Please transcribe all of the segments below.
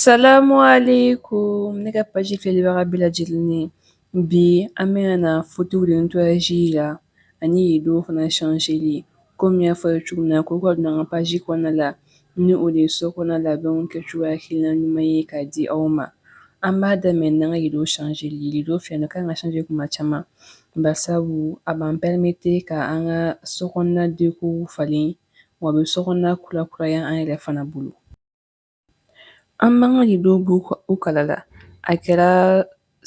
Salamu alaikum ne ka page filɛbaga bɛɛ lajɛlen ye bi an bɛ yan na fauteuil de nettoyage la ani rideau fana changeli komi n y'a fɔ aw ye cogo min na k'o ka don an ka page kɔnɔna la ni o de ye so kɔnɔ labɛnw kɛcogoya hakilina ɲuman ye k'a di aw ma an b'a daminɛ n'an ka rideau changeli rideau filɛ nin ye kan ka changer kuma caman barisabu a b'an permettre ka an ka so kɔnɔna déco falen wa a bɛ so kɔnɔna kurakuraya an yɛrɛ fana bolo an b'an ka rideauw bɔ u kala la a kɛra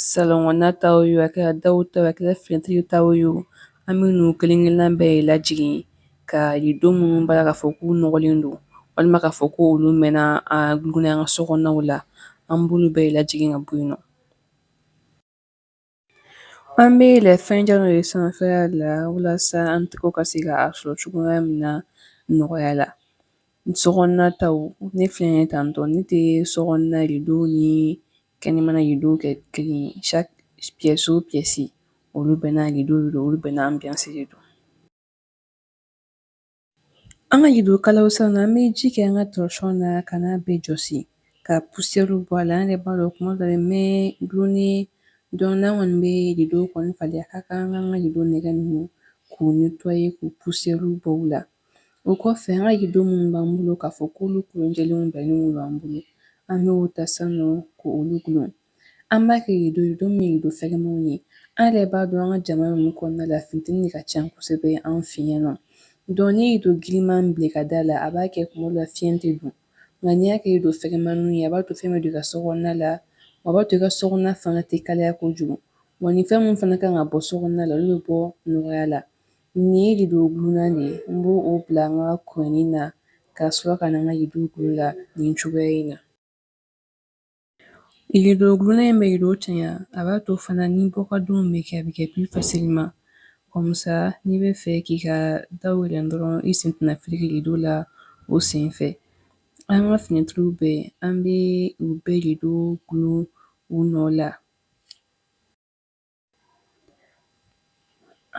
salɔn kɔnɔna taw ye a kɛra daw ta a kɛra finɛtiri taw ye an bɛ n'u kelen-kelenna bɛɛ ye lajigin ka rideau minnu b'a k'a fɔ k'u nɔgɔlen don walima k'a fɔ ko olu mɛnna a gulonnen an ka so kɔnɔnaw la an b'olu bɛɛ ye lajigin ka bɔ yen nɔ An bɛ la fɛn caman ye sanfɛya la walasa an tɛ ka se k a sɔrɔ cogoya min na nɔgɔya la so ta ne fi ye tan tɔ ne tɛ so nadenw ni kɛnɛmana ye don kɛ kelen saso psi olu bɛ n' olu bɛ n' an bɛse don An ka rideau kalaw san na, an bɛ ji kɛ an ka torchon na ka n'a bɛɛ jɔsi ka poussière bɔ a la. An yɛrɛ b'a dɔn kuma dɔ la nin bɛ dulonnen donc n'an kɔni bɛ rideau kɔni falen a ka kan an k'an ka rideau nɛgɛ ninnu k'u nettoyer k'u poussière bɔ u la. O kɔfɛ an ka rideau minnu b'an bolo k'a fɔ k'olu kolen jɛlenw bɛnnen don an bolo, an bɛ o ta sisan nɔ k'olu dulon. An b'a kɛ rideau don min rideau fɛgɛmanw ye an yɛrɛ b'a dɔn an ka jamana ninnu kɔnɔna la funteni de ka ca kosɛbɛ an fɛ yan nɔ donc n'i ye rideau giriman bila i ka da la a b'a kɛ kuma dɔ la fiɲɛ tɛ don nka n'i y'a kɛ rideau fɛgɛmanw ye a b'a to fiɲɛ bɛ don i ka so kɔnɔna la a b'a to i ka so kɔnɔna fana tɛ kalaya kojugu wa ni fɛn min fana kan ka bɔ so kɔnɔna la olu bɛ bɔ nɔgɔya la nin ye rideau gulonnan de ye an b'o bila an ka kɔni na ka sɔrɔ ka na an ka rideau la nin cogoya in na Rideau gulonnan in bɛ rideau cɛɲa a b'a to fana ni bɔ ka donw bɛ kɛ a bɛ kɛ plus facilement comme ça n'i b'a fɛ k'i ka daw yɛlɛ dɔrɔn i sen tɛna fereke rideau la o sen fɛ an ka finɛtiriw bɛɛ an bɛ u bɛɛ rideauw gulon u nɔ la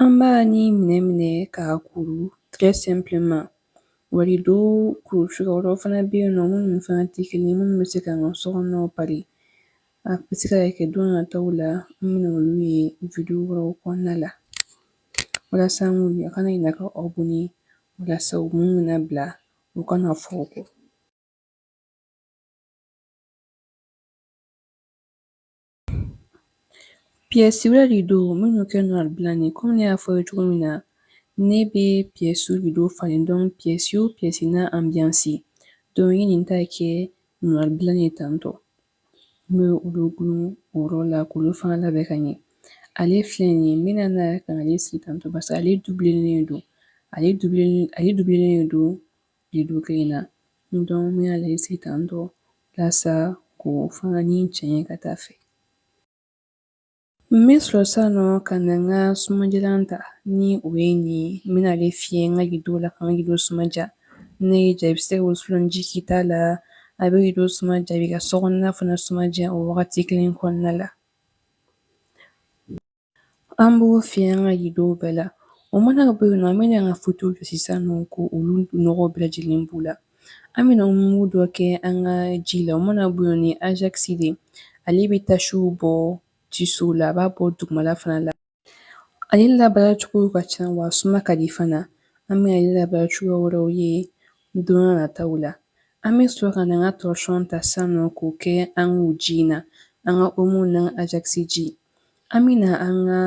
An b'a ni minɛ minɛ k'a kuru très simplement wa rideau kuru cogoya wɛrɛw fana bɛ yen nɔ minnu fana tɛ kelen ye minnu bɛ se ka an ka so kɔnɔnaw pari a bɛ se ka kɛ don nataw la an bɛna olu ye video wɛrɛw kɔnɔna la walasa an k'olu a kana ɲinɛ ka abonner walasa u minnu bɛna bila u kana fɔ aw kɔ Piyɛsiw la rido minnu kɛ noir blanc ye kɔmi ne y'a fɔ ye cogo min na ne bɛ piyɛsiw rido falen donc piyɛsi o piyɛsi n'a anbiyansi don ye nin ta kɛ noir blanc ye tantɔ n bɛ olu dulon o yɔrɔ la k'olu fana labɛn ka ɲɛ ale filɛ nin ye n bɛna na ka ale sigi tantɔ barisa ale dubulelen don ale dubulelen don rido kelen na donc n bɛna ale sigi tantɔ walasa k'o fana nettoyer ka taa fɛ n bɛ sɔrɔ san nɔ ka na n ka sumadiyalan ta ni o ye nin ye n bɛna ale fiyɛ n ka rido la ka n ka rido suma diya n'a y'i diya i bɛ se ka wusulan ji k'i ta la a bɛ rido suma diya a b'i ka sokɔnɔna fana suma diya o wagati kelen kɔnɔna la An b'o fiyɛ an ka ridow bɛɛ la o mana bɔ yen nɔ an bɛna an ka futew jɔsi san nɔ k'olu nɔgɔ bɛɛ lajɛlen b'u la an bɛna mugu dɔ kɛ an ka ji la o mana bɔ yen ni anzkisi de ale bɛ tasiw bɔ tisiw la a b'a bɔ dugumala fana la ale labaaracogo ka ca wa suma ka di fana an bɛ ale labaara cogoya wɛrɛw ye don nataw la an bɛ sɔrɔ ka an ka tɔsɔn ta san nɔ k'o kɛ an ka ji in na an ka omo ni anzkisi ji An bɛ na an ka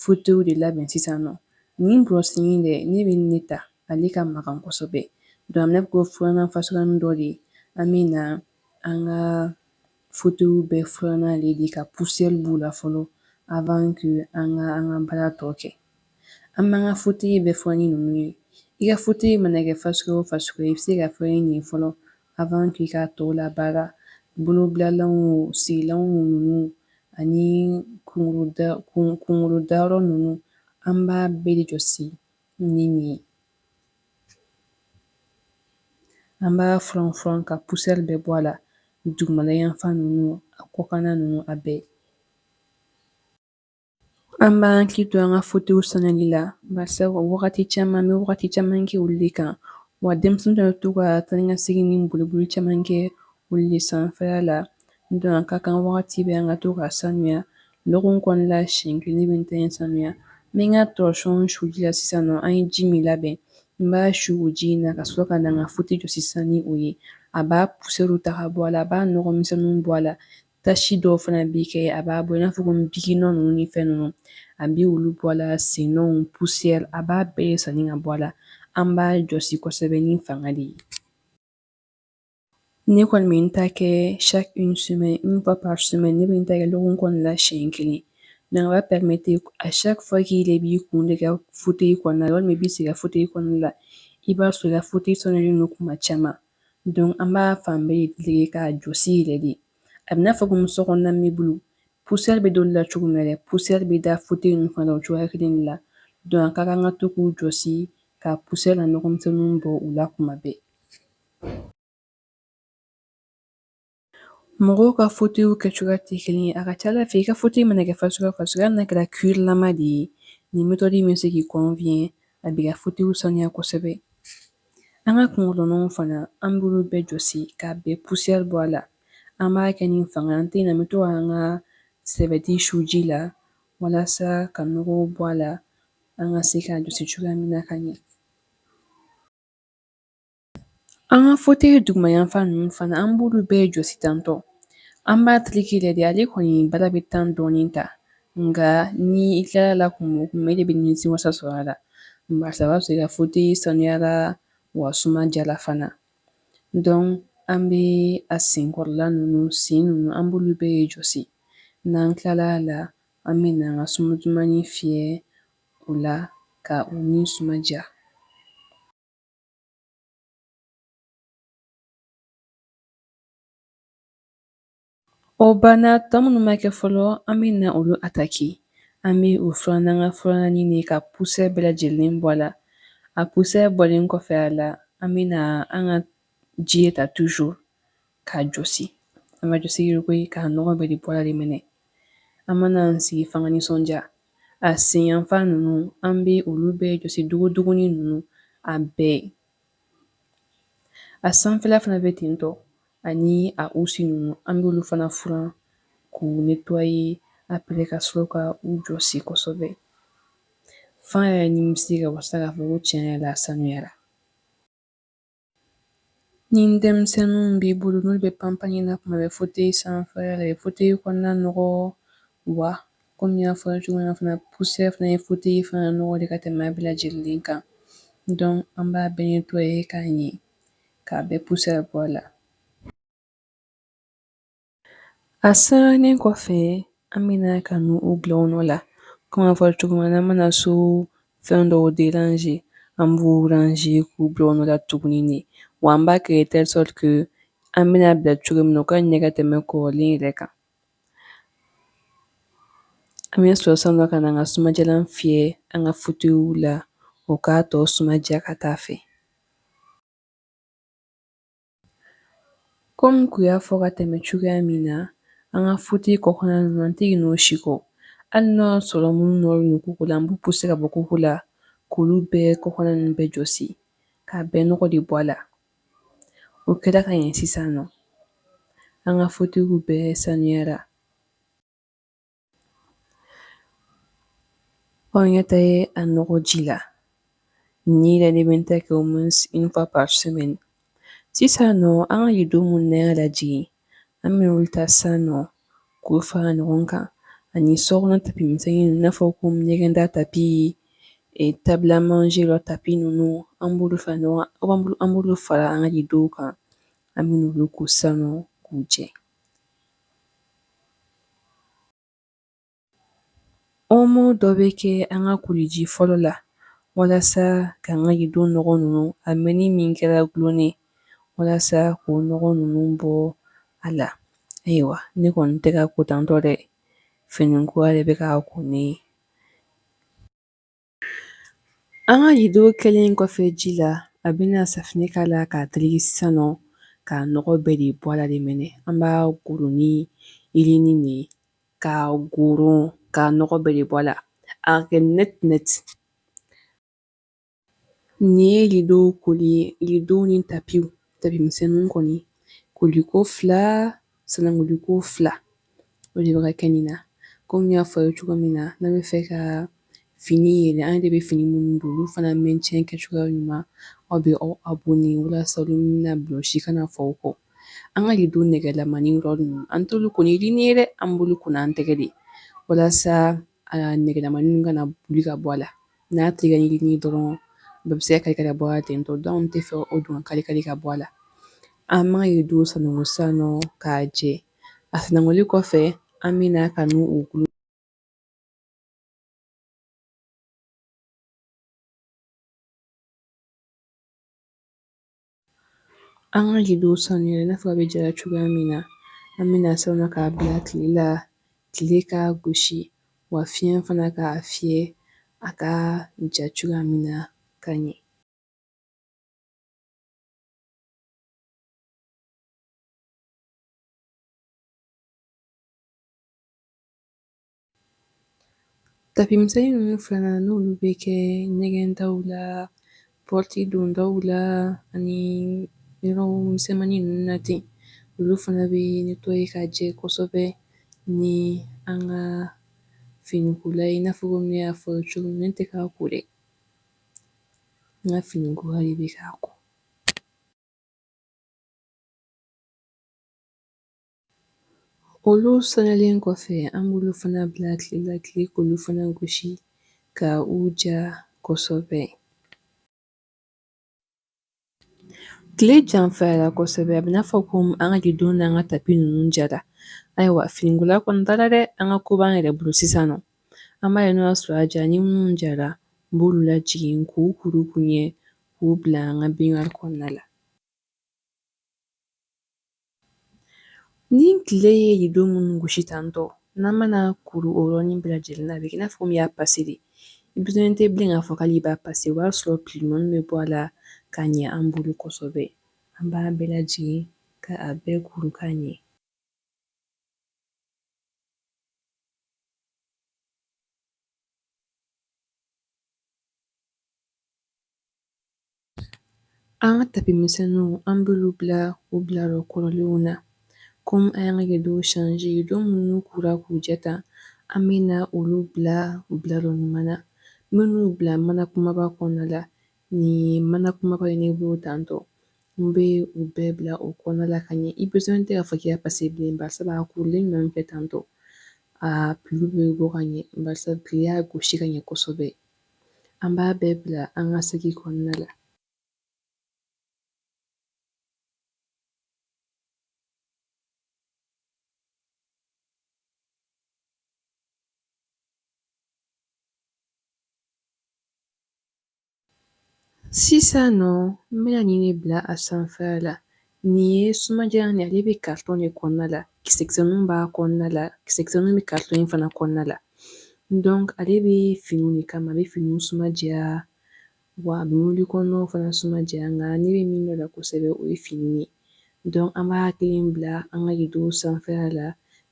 futew de labɛn sisan nɔ nin burɔsi in dɛ ne bɛ ne ta ale ka magan kosɛbɛ donc ne ko furannan fasɔn dɔ de ye an bɛ na an ka futew bɛɛ furan n'ale de ka poussière b'u la fɔlɔ avant k'an ka an ka baara tɔ kɛ an b'an ka fute bɛɛ furan ni ninnu ye i ka fute mana kɛ fasɔn o fasɔn i bɛ se k'a furan nin fɔlɔ avant k'i ka tɔw labaara, bolobilalanw wo, sigilanw wo ninnu ani kunkolo dayɔrɔ ninnu, an b'a bɛɛ de jɔsi ni nin ye. An b'a furan furan ka poussière bɛɛ bɔ a la, dugumalayanfan ninnu, a kɔkanna ninnu, a bɛɛ. An b'an hakili to an ka futew saniyali la barisa wagati caman an bɛ wagati caman kɛ olu de kan wa denmisɛnninw bɛ to ka taa ka segin ni boliboli caman kɛ olu de sanfɛ la donc a ka kan wagati bɛɛ an ka to ka sanuya lɔgɔkun kɔnɔna la siɲɛ kelen i b'i ta sanuya n bɛ n ka tɔsɔn su la sisan nɔ an ye ji min labɛn n b'a su o ji in na ka sɔrɔ ka na n ka fute jɔsi san ni o ye a b'a poussière ta ka bɔ a la a b'a nɔgɔmisɛnw bɔ a la Tasi dɔw fana bɛ kɛ a b'a bɔ i n'a fɔ ko biki nɔ ninnu ni fɛn ninnu a bɛ olu bɔ la sennɔw poussière a b'a bɛɛ de saniya ka bɔ a la an b'a jɔsi kosɛbɛ ni fanga de ye ne kɔni bɛ n ta kɛ chaque semaine une fois par semaine ne bɛ n ta kɛ lɔgɔkun kɔnɔna la siɲɛ kelen donc a b'a pɛmete à chaque fois k'i de b'i kun da i ka fute kɔnɔna walima i bɛ sigi i ka fute kɔnɔna la i b'a sɔrɔ i ka fute saniyalen don kuma caman Donc an b'a fan bɛɛ tereke ka jɔsi yɛrɛ de a bɛ n'a fɔ comme so kɔnɔna meublew poussière bɛ da olu la cogo min na dɛ poussière bɛ da fauteuil ninnu fana o cogoya kelen de la donc a ka kan ka to k'u jɔsi ka poussière n'a nɔgɔmisɛnninw bɔ u la kuma bɛɛ Mɔgɔw ka fauteuilw kɛ cogoya tɛ kelen ye a ka ca a la fɛ i ka fauteuil mana kɛ fɛn suguya fɛn suguya n'a kɛra cuirlama de ye nin méthode bɛ se k'i kɔnfiɲɛ a b'i ka fauteuilw saniya kosɛbɛ an ka kunkolɔnw fana an b'olu bɛɛ jɔsi k'a bɛɛ poussière bɔ a la an b'a kɛ ni fanga an tɛ na bɛ to an ka serviette su ji la walasa ka nɔgɔw bɔ a la an ka se k'a jɔsi cogoya min na ka ɲɛ An ka fauteuil duguma yanfan ninnu fana an b'olu bɛɛ jɔsi tantôt an b'a tereke yɛrɛ de ale kɔni baara bɛ temps dɔɔnin ta nka ni i tilala la kun kun de bɛ nimisi wasa sɔrɔ a la barisa b'a sɔrɔ ka fauteuil sanuyara wa suma diyara fana donc an bɛ a senkɔrɔla ninnu sen ninnu an b'olu bɛɛ jɔsi n'an tilala la an bɛ na an ka suma dumannin fiyɛ o la ka u nin suma diya O banna tɔ minnu ma kɛ fɔlɔ an bɛ na olu attaquer an bɛ o furan n'an ka furannan nin ye ka poussière bɛɛ lajɛlen bɔ a la a poussière bɔlen kɔfɛ a la an bɛ na an ka ji ta toujours k'a jɔsi an b'a jɔsi yɛrɛ koyi k'a nɔgɔ bɛɛ de bɔ a la de minɛ an mana an sigi fo an ka nisɔndiya a senyanfan ninnu an bɛ olu bɛɛ jɔsi dogodogonin ninnu a bɛɛ a sanfɛla fana bɛ ten tɔ ani a housse ninnu an bɛ olu fana furan k'u nettoyer après ka sɔrɔ ka u jɔsi kosɛbɛ fo an yɛrɛ nimisi ka wasa k'a fɔ ko tiɲɛ yɛrɛ la sanuyara Ni denmisɛnninw b'i bolo n'olu bɛ panpanni na kuma bɛɛ fauteuil sanfɛla bɛ fauteuil kɔnɔna nɔgɔ wa kɔmi n y'a fɔ cogo min fana poussière fana bɛ fauteuil fana nɔgɔ de ka tɛmɛ bɛɛ lajɛlen kan donc an b'a bɛɛ nettoyer k'a ɲɛ k'a bɛɛ poussière bɔ a la A sirannen kɔfɛ an bɛna ka na u bila u nɔ la comme a fɔra cogo min na an mana so fɛn dɔw déranger an b'u ranger k'u bila u nɔ la tuguni de wa an b'a kɛ telle sorte que an bɛna bila cogo min na u ka ɲɛ ka tɛmɛ kɔrɔlen yɛrɛ kan an bɛ sɔrɔ san dɔ ka na an ka sumadiyalan fiyɛ an ka fauteuilw la o k'a tɔ suma diya ka taa a fɛ Komi n kun y'a fɔ ka tɛmɛ cogoya min na an ka futi kɔkanna ninnu an tɛ ɲinɛ o si kɔ hali n'a sɔrɔ minnu nɔrɔlen kogo la an b'u puse ka bɔ kogo la k'olu bɛɛ kɔkanna ninnu bɛɛ jɔsi k'a bɛɛ nɔgɔ de bɔ a la o kɛra ka ɲɛ sisan nɔ an ka futiw bɛɛ saniyara Ɔnyɛ tɛ ye a nɔgɔ ji la ni yɛrɛ de bɛ to ka kɛ au moins une fois par semaine sisan nɔ an ka rido minnu an y'a lajigin an bɛ olu ta san nɔ k'o fara ɲɔgɔn kan ani sokɔnɔ tapimisɛn i n'a fɔ ko ɲɛgɛnda tapi e table à manger la tapi ninnu an b'olu fara ɲɔgɔn an b'olu fara an ka rido kan an bɛ olu ko san nɔ k'u jɛ Omo dɔ bɛ kɛ an ka koliji fɔlɔ la walasa k'an ka rido nɔgɔ ninnu a mɛɛnni min kɛra dulonnen walasa k'o nɔgɔ ninnu bɔ a la ayiwa ne kɔni tɛ ka kotantɔ dɛ finikola de bɛ ka ko ne ye An ka ridow kɛlen kɔfɛ ji la a bɛna safinɛ kɛ a la k'a tereke san nɔ ka nɔgɔ bɛɛ de bɔ la de minɛ an b'a goro ni yirinin ye ka goro ka nɔgɔ bɛɛ de bɔ la a kɛ net net nin ye ridow koli ye ridow ni tapiw tapimisɛn kɔni koliko fila Sanankoliko fila o de bɛ ka kɛ nin na komi y'a fɔ ye cogo min na ne bɛ fɛ ka fini yɛrɛ an de bɛ fini minnu don olu fana mɛn tiɲɛ kɛ cogoya ɲuman aw bɛ aw abɔni walasa na vlog si kana fɔ kɔ an ka rido nɛgɛlamani yɔrɔ ninnu an t'olu ko ni yirinin ye dɛ an b'olu ko n'an tɛgɛ de walasa nɛgɛlamani kana boli ka bɔ a la n'a tereke ni yirinin dɔrɔn bɛɛ bɛ se ka kari kari ka bɔ ten tɔ dɔn tɛ fɛ o dun kari kari ka bɔ a la an b'an ka rido sananko san nɔ k'a jɛ a sanankoli kɔfɛ an bɛ na ka u dulon An ka ridow sanuya i n'a fɔ a bɛ jara cogoya min na an bɛna sanuya k'a bila tile la tile ka gosi wa fiɲɛ fana k'a fiyɛ a ka ja cogoya min na ka ɲɛ Tapi misɛnnin ninnu fana n'olu bɛ kɛ ɲɛgɛn daw la pɔti dondaw la ani yɔrɔ misɛnmannin ninnu na ten olu fana bɛ ne tɔgɔ ye ka jɛ kosɛbɛ ni an ka finikola ye n'a fɔ ne y'a fɔ cogo ne tɛ k'a ko dɛ n ka finikola de bɛ k'a ko Olu saniyalen kɔfɛ an b'olu fana bila tile la tile k'olu fana gosi ka u ja kosɛbɛ tile janfayara kosɛbɛ a bɛ n'a fɔ ko an ka don an ka tapi ninnu jara ayiwa finikola kɔni taara dɛ an ka ko b'an yɛrɛ bolo sisan nɔ an b'a ye n'o y'a sɔrɔ a ja ni minnu jara n b'olu lajigin k'u kuru k'u ɲɛ k'u bila an ka binwa kɔnɔna la Ni tile ye nin don minnu gosi tantɔ n'an mana kuru o yɔrɔnin bɛɛ lajɛlen na a bɛ k'i n'a fɔ min y'a pase de i besoin tɛ bilen k'a fɔ k'ali i b'a pase o b'a sɔrɔ pli ɲumannin bɛ bɔ a la ka ɲɛ an bolo kosɛbɛ an b'a bɛɛ lajigin ka a bɛɛ kuru ka ɲɛ An ka tapi misɛnninw an b'olu bila u bila yɔrɔ kɔrɔlenw na kɔmi an y'an ka kɛ don sanji don minnu kora k'u jɛ ta an bɛ na olu bila u bila yɔrɔ ɲuman na minnu bila mana kunbaba kɔnɔna la nin mana kunbaba in ne b'o tantɔ n bɛ u bɛɛ bila o kɔnɔna la ka ɲɛ i besoin tɛ k'a fɔ i y'a pase bilen basa a kurulen ɲɔgɔn kan tantɔ a pli bɛ bɔ ka ɲɛ basa tile y'a gosi ka ɲɛ kosɛbɛ an b'a bɛɛ bila an ka saki kɔnɔna la sisan nɔ n bɛna nin bila a sanfɛla la Nin ye sumajalan ale bɛ karitɔn de kɔnɔna la kisɛkisɛninw b'a kɔnɔna la kisɛkisɛninw bɛ karitɔn in fana kɔnɔna la donc ale bɛ finiw de kama a bɛ finiw sumaja wa a bɛ wuli kɔnɔnaw fana sumaja nka ne bɛ min dɔn la kosɛbɛ o ye fini ye donc an b'a hakili bila an ka rideau sanfɛla la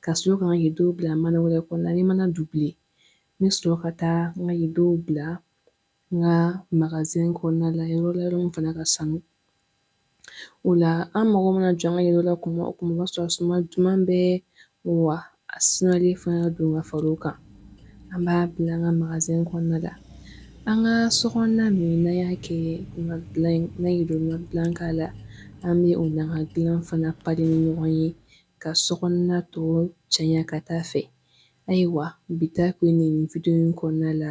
ka sɔrɔ ka n ka rideau bila mana wɛrɛ kɔnɔna ni mana dubile n bɛ sɔrɔ ka taa n ka rideau bila N ka magazɛn kɔnɔna la yɔrɔ la yɔrɔ min fana ka sanu o la an mago mana jɔ an ka yɔrɔ la kuma o kuma o b'a sɔrɔ suma duman bɛ wa a sumalen fana ka don ka fara o kan an b'a bila an ka magazɛn kɔnɔna la an ka so kɔnɔna min na y'a kɛ na ye don ka dilan k'a la an bɛ o na ka dilan fana pari ni ɲɔgɔn ye ka so kɔnɔna tɔw caya ka taa fɛ ayiwa bi ta ko nin nin wideyo nin kɔnɔna la